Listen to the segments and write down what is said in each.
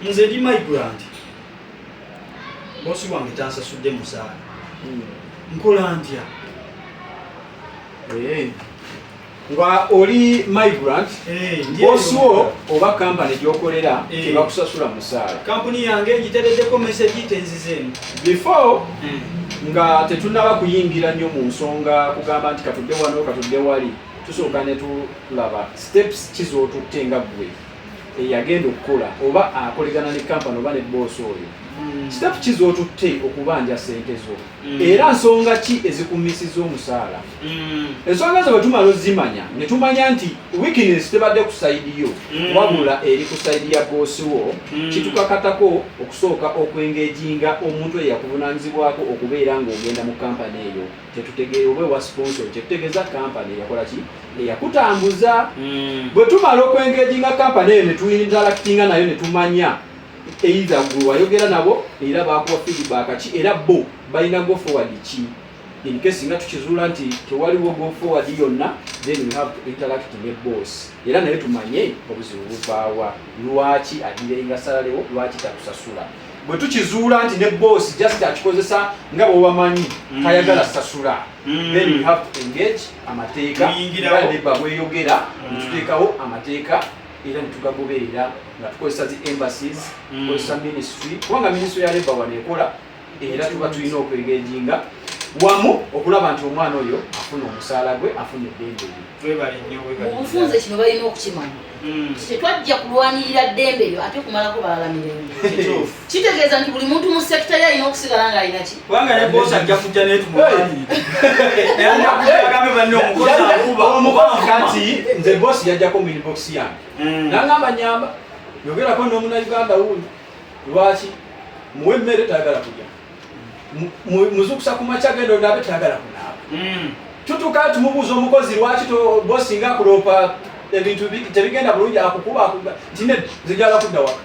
nze ndi migrant bosi wange tansasudde musaala hmm. nkola ntya eh. nga oli migrant eh, bosi wo oba kampani gyokolera eh. tebakusasula musaala kampuni yange ngitereddeko mesegi tenzizeemu before hmm. nga tetunaba kuyingira nnyo mu nsonga kugamba nti katudde wano katudde wali tusooka netulaba steps kizotutte nga ggwe eyagenda okukola oba akolegana ne kampani oba ne boosi oyo hmm. kitapu ki z'otutte okubanja sente zo hmm. era nsonga ki ezikumisiza omusaala hmm. ensonga zo bwe tumala ozimanya ne tumanya nti wikinesi tebadde ku sayidi yo wabula eri ku sayidi ya boosi wo kitukakatako okusooka okwengejinga omuntu eyakuvunanyizibwako okubeera ng'ogenda mu kampani eyo tetutegeera oba ewa sponsor kyetutegeeza kampani eyakola ki eyakutambuza hmm. bwe tumala okwengeginga kampani eyo netuinterakitinga nayo netumanya eitha gwe wayogera nabo era bakuwa feedback ki era bo balina go forward ki in case nga tukizuula nti tewaliwo go forward yonna then we have to interact ne boss era naye tumanye obuzibu buvaawa lwaki adirenga salalewo lwaki tatusasula bwe tukizuula nti ne boss just akikozesa nga bwebamanyi mm. tayagala sasula mm. then we have to engage amateeka neba bweyogera mm. netuteekawo amateeka era netugagoberera nga tukozesa zi embassies tukozesa ministry kubanga ministry ya leba wanekola era tuba tulina okwegejinga wamu okulaba nti omwana oyo afuna omusaala gwe afuna eddembe mubufunze kino balina okukimanya hmm. tetwajja kulwanirira ddembe lyo ate kumalako balala mirembe kitegeeza nti buli muntu mu sekita ye alina okusigala nga alina ki kubanga ne bosi ajja kujja naye tumuagambe banne omukozi akuba omukati nze bosi yajjako mu inbox yange hmm. nangamba nyamba yogerako n'omunauganda wundi lwaki muwe emmere tayagala kulya muzukusa ku makya genda onaabe tayagala kunaaba hmm. tutuka nti mubuuza omukozi lwaki bosinga akuloopa ebintu tebigenda bulungi akukuba nti ne zijala kudda waka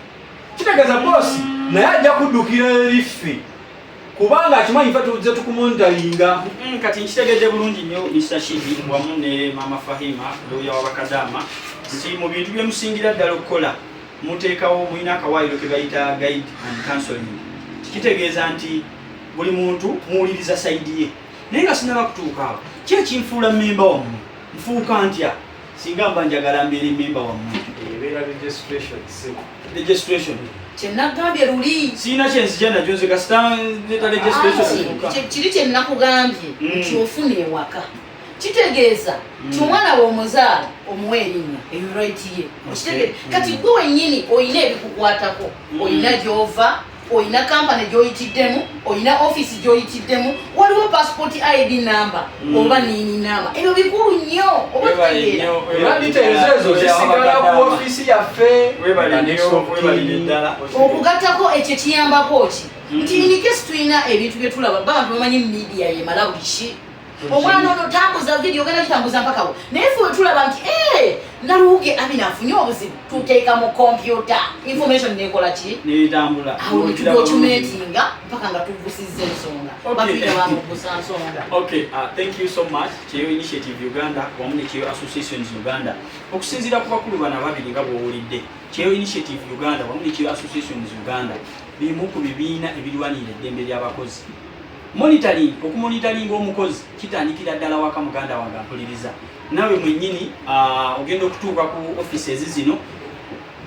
kitegeeza hmm. bosi naye ajja kuddukira eriffe kubanga akimanyi fe tuze tukumontalinga hmm, kati nkitegedde bulungi nnyo mr shibi wamu ne mama fahima looya wabakadaama nti mu bintu byemusingira ddala okukola Muteekawo mulina akawaayiro ke bayita guide and counseling. Kitegeeza nti buli muntu muwuliriza sayidi ye, naye nga sinaba kutuuka awo ki ekinfuula mmemba wammwe? Nfuuka ntya singa mba njagala mbeera emmemba wammwe? Ebeera registration sebo. Registration. Kyenagambye luli. Sina kyenzija nakyo nze kasita neta registration. Kiri kyenakugambye nti ofuna ewaka. kitegeeza nti mm. omwana womuzaala omuwa erinnya eyo right ye okitegeeza mm. kati gwe wenyini olina ebikukwatako mm. olina gyova olina kampani gyoyitiddemu olina ofiisi gyoyitiddemu waliwo passport id number oba nini number ebyo bikulu nnyo okugattako ekyo kiyambako ki nti inikesi tulina ebintu byetulaba bantu bamanyi media yemala buli ki omwana ono tambuza video ogenda kitambuza mpaka wo naye fe wetulaba nti eh, naluwuge amina afunye obuzibu tuteeka mu kompyuta information nekola ki awo netudocumentinga mpaka nga tugusizza ensonga batuyabamugusa nsonga okay uh, thank you so much kyeyo initiative uganda wamu nekyeyo associations uganda okusinziira ku bakulu bano ababiri nga bwowulidde kyeyo initiative uganda wamu nekyeyo associations uganda bimu ku bibiina ebirwanirira eddembe ly'abakozi Monitoring, okumonitalinga omukozi kitandikira ddala waka muganda wange ampuliriza nawe mwenyini uh, ogenda okutuuka ku offices zino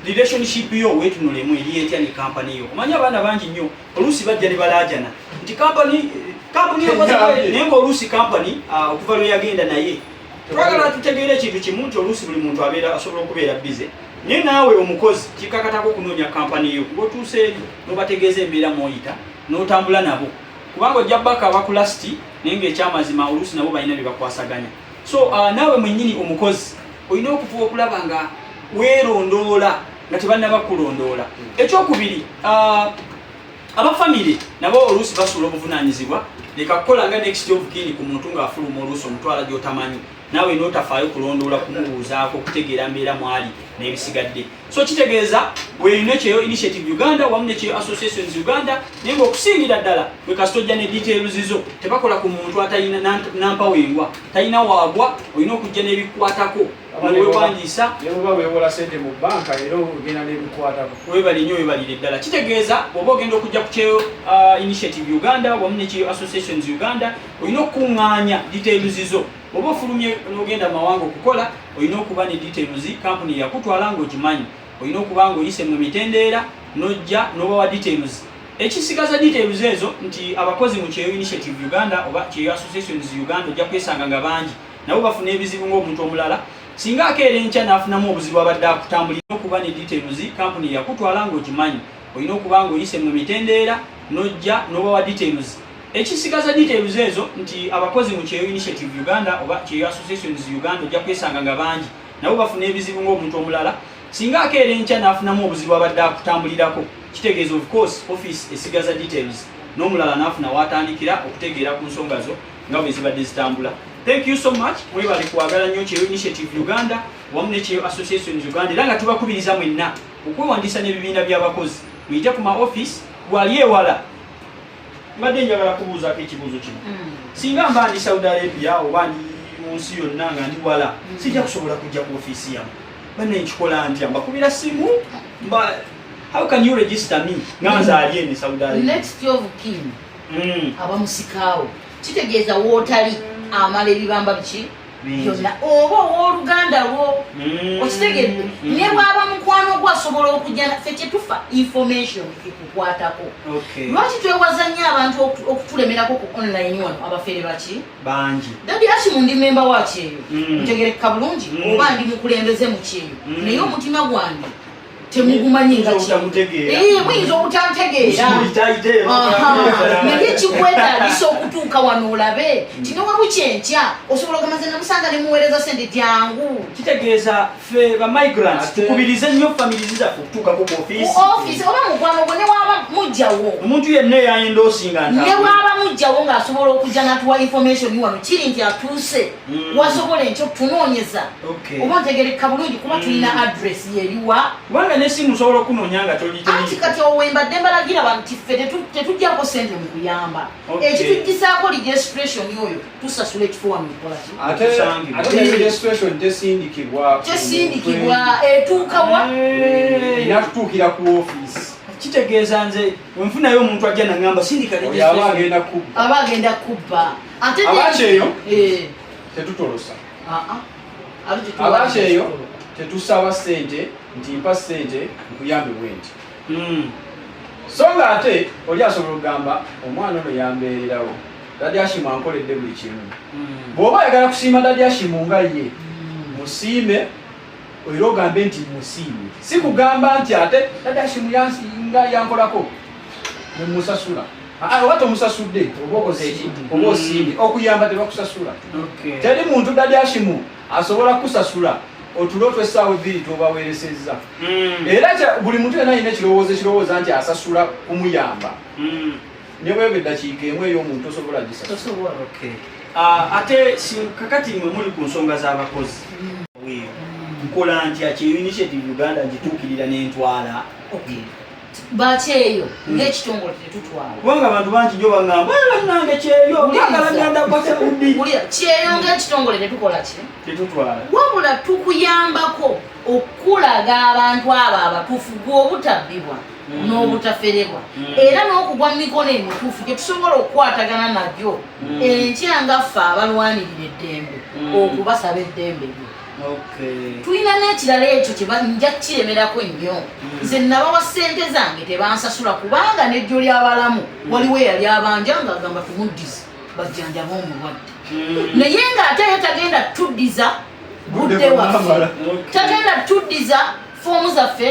relationship yo wetunulemu eri etya ne kampani yo omanya abaana bangi nnyo oluusi bajja ne balaajana nti kampani kampani naye ngaoluusi kampani uh, okuva lwe yagenda naye twagala tutegeera ekintu kimu nti oluusi buli muntu abeera asobola okubeera bize naye naawe omukozi kikakatako okunoonya kampani yo ngaotuuseeri nobategeeza embeera mwoyita n'otambula nabo kubanga ojja baka abakulasiti naye ngaekyamazima oluusi nabo balina bye bakwasaganya so uh, naawe mwennyini omukozi olina okufuba okulaba nga weerondoola nga tebannaba kulondoola hmm. ekyokubiri uh, abafamire nabo oluusi basuula obuvunaanyizibwa leka kukola nga next of kin ku muntu ng'afuluma oluusi omutwala gy'otamanyi naawe n'otafaayo kulondoola kumubuuzaako okutegeera mbeera mwali n'ebisigadde so kitegeeza bweyina kyeyo initiative uganda wamu nekyeyo associations uganda naye nga okusingira ddala bwe kasita ojja ne details zo tebakola ku muntu atalina nampawo engwa talina waagwa olina okujja n'ebikwatako wewandiisa nebuba wewola sente mu banka era ogenda n'ebikwatako webale nyo webalire ddala kitegeeza oba ogenda okujja ku kyeyo uh, initiative uganda wamu nekyeyo associations uganda olina okukuŋŋaanya details zo Oba ofulumye n'ogenda mu mawanga okukola, olina okuba ne details kampuni yakutwala ng'ogimanyi. Olina okuba ng'oyise mu mitendeera n'ojja n'obawa details. Ekisigaza details ezo nti abakozi mu Kyeyo Initiative Uganda oba Kyeyo Associations Uganda ojja kwesanga nga bangi nabo bafuna ebizibu ng'omuntu omulala. Singa akeera enkya n'afunamu obuzibu abadde akutambulira. Olina okuba ne details kampuni yakutwala ng'ogimanyi. Olina okuba ng'oyise mu mitendeera n'ojja n'obawa details. Ekisigaza details ezo nti abakozi mu Kyeyo Initiative Uganda oba Kyeyo Associations Uganda ojja kwesanga nga bangi nabo bafuna ebizibu ng'omuntu omulala singa akeera enkya n'afunamu obuzibu abadde akutambulirako kitegeeza of course office esigaza details n'omulala n'afuna waatandikira okutegeera ku nsonga zo nga bwe zibadde zitambula thank you so much mwebale kwagala nnyo kyeyo initiative uganda wamu ne kyeyo associations uganda era nga tubakubiriza mwenna okwewandiisa n'ebibiina by'abakozi muyite ku ma office gwali ewala mbadde njagala kubuuzako ekibuuzo kino mm. singa mba ndi saudi arabia oba ndi mu nsi yonna nga ndi wala mm. sijja kusobola kujja ku ofiisi yamu bane nkikola ntya mbakubira simu mba how can you register me nga nzaali ene saudi arabia next of kin mm. abamusikaawo kitegeeza wootali amala ebibamba biki yonna oba owoluganda lwo mm. okitegedde mm. ne bwaba mukwano gwo asobola okujja naffe kyetufa information ekukwatako lwaki twewaza nnyo abantu okutulemerako ku online wano abafere baki bangi dadi aki mundi memba wakyeyo mm. ntegerekeka bulungi oba ndi mukulembeze mukyeyo naye omutima gwange temugumanyi nga muyinza obutantegeera naye kikwetagisa okutuuka wano olabe nti newabukyi enkya osobola ogamaze namusanga nemuweereza sente jangu kitegeeza fe bamigrant tukubirize nnyo famirizi zaffe okutuukako ku ofiisi oba mukwano gwo newaba mujjawo omuntu yenna eyayendoosinga newaba mujjawo ng'asobola okujja natuwa information wano kiri nti atuuse Mm. wasobola enkyo okutunoonyeza oba ntegereka bulungi kuba mm. tulina adress yeriwa kubanga nesimu osobola okunonya nga tolianti kati owembadde mbalagira bantu tiffe tetujjako sente mu kuyamba ekitujjisaako registration oyo tusasula ekifuwa mu kolakyesindikibwa etuukawa natutuukira ku ofiisi kitegeeza nze wenfunayo omuntu ajja nangamba sindikaaba agenda kubba abakyeyo eh. tetutolosa ah, ah. abakyeyo tetusaba sente nti mpa sente nkuyambe bwenti hmm. so nga ate oli asobola okugamba omwana ono yambeererawo dadi ashimu ankoledde buli kimu hmm. bw'oba ayagala kusiima dadi ashimu nga ye hmm. musiime era ogambe nti musiimye si kugamba nti ate dadashimu yansinga yankolako nemusasula oba tomusasudde oba osiimye okuyamba tebakusasula teri muntu dadashimu asobola kukusasula otulo twesaawa ebbiri tobaweresezza hmm. era buli muntu yena alina ekirowoozo ekirowooza nti asasula kumuyamba hmm. ne bweba eddakiika emu ey'omuntu tosobola gisa tosobola okay uh, ate kakati mwe muli ku nsonga z'abakozi nkola ntya ki initiative uganda ngituukirira n'entwala okay bakyeyo hmm. ngekitongole tetutwala kubanga abantu bangi nyo bagamba nange kyeyo kyeyo ngekitongole tetukola ki tetutwala wabula tukuyambako okukulaga abantu abo abatufu gwe obutabbibwa mm. n'obutaferebwa mm. era n'okugwa mu mikono emituufu gye tusobola okukwatagana nabyo mm. enkya nga ffe abalwanirira eddembe okubasaba eddembe lyo tulina n'ekirala ekyo kyebanjja kukiremerako nnyo nze nabawa ssente zange tebansasula kubanga nejjo ly'abalamu waliwo eyali abanja nga agamba tumuddize bajjanjaba omulwadde naye ng'ate ye tagenda tuddiza budde waffe tagenda tuddiza foomu zaffe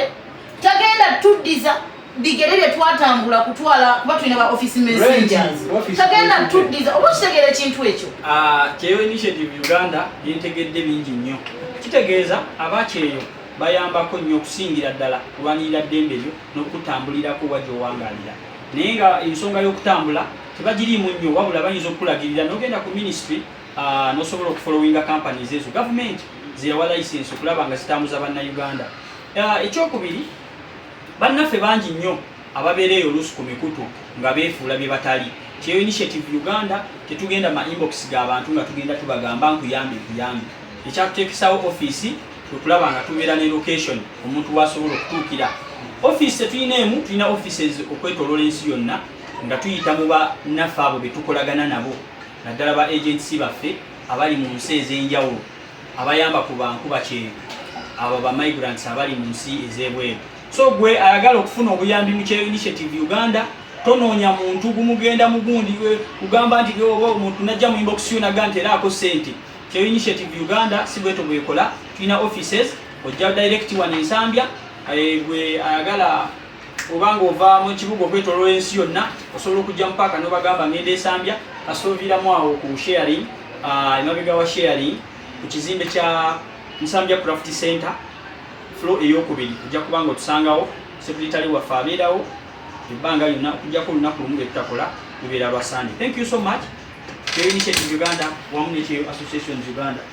tagenda tuddiza bigere bye twatambula kutwala kuba tulina ba office messengers tagenda tuddiza oba okitegeera ekintu ekyo ah, kyeyo initiative uganda yentegedde bingi nnyo kitegeeza abakyeyo bayambako nnyo okusingira ddala kulwanirira ddembe lyo n'okutambulirako oba gy'owangalira naye nga ensonga y'okutambula tebagiriimu nnyo wabula bayinza okukulagirira n'ogenda ku ministry ah, n'osobola okufolowinga companies ezo gavumenti zeyawa license okulaba nga zitambuza bannayuganda Ah, ekyokubiri bannaffe bangi nnyo ababeera eyo oluusi ku mikutu nga beefuula bye batali kyeyo initiative uganda tetugenda ma inbox ga bantu nga tugenda tubagamba nkuyambe nkuyambe ekyatuteekesawo ofiisi kwekulaba nga tubeera ne location omuntu wasobola okutuukira ofiisi tetulina emu tulina offices okwetoloola ensi yonna nga tuyita mu bannaffe abo be tukolagana nabo naddala ba agency baffe abali mu nsi ez'enjawulo abayamba ku bankuba kyengu abo ba migrants abali mu nsi ez'ebweru so gwe ayagala okufuna obuyambi mu kyeyo initiative uganda tonoonya muntu gumugenda mugundi kugamba nti oba omuntu najja mu inbox yo naga nti era ako sente kyeyo initiative uganda si bweto bwekola tulina offices ojja direct wano ensambya eh, gwe ayagala oba ng'ova mu kibuga okwetoloola ensi yonna osobola okujja mu paaka n'obagamba ngenda esambya kasita oviiramu awo ku sharing ah, emabega wa sharing ku kizimbe kya nsambya craft center flo eyokubiri ojja kuba nga otusangawo sekuritale waffe abeerawo ebbanga lyonna okujjako olunaku lumu lwe tutakola lubeera lwa sande thank you so much kyo initiative uganda wamu nekyeyo associations uganda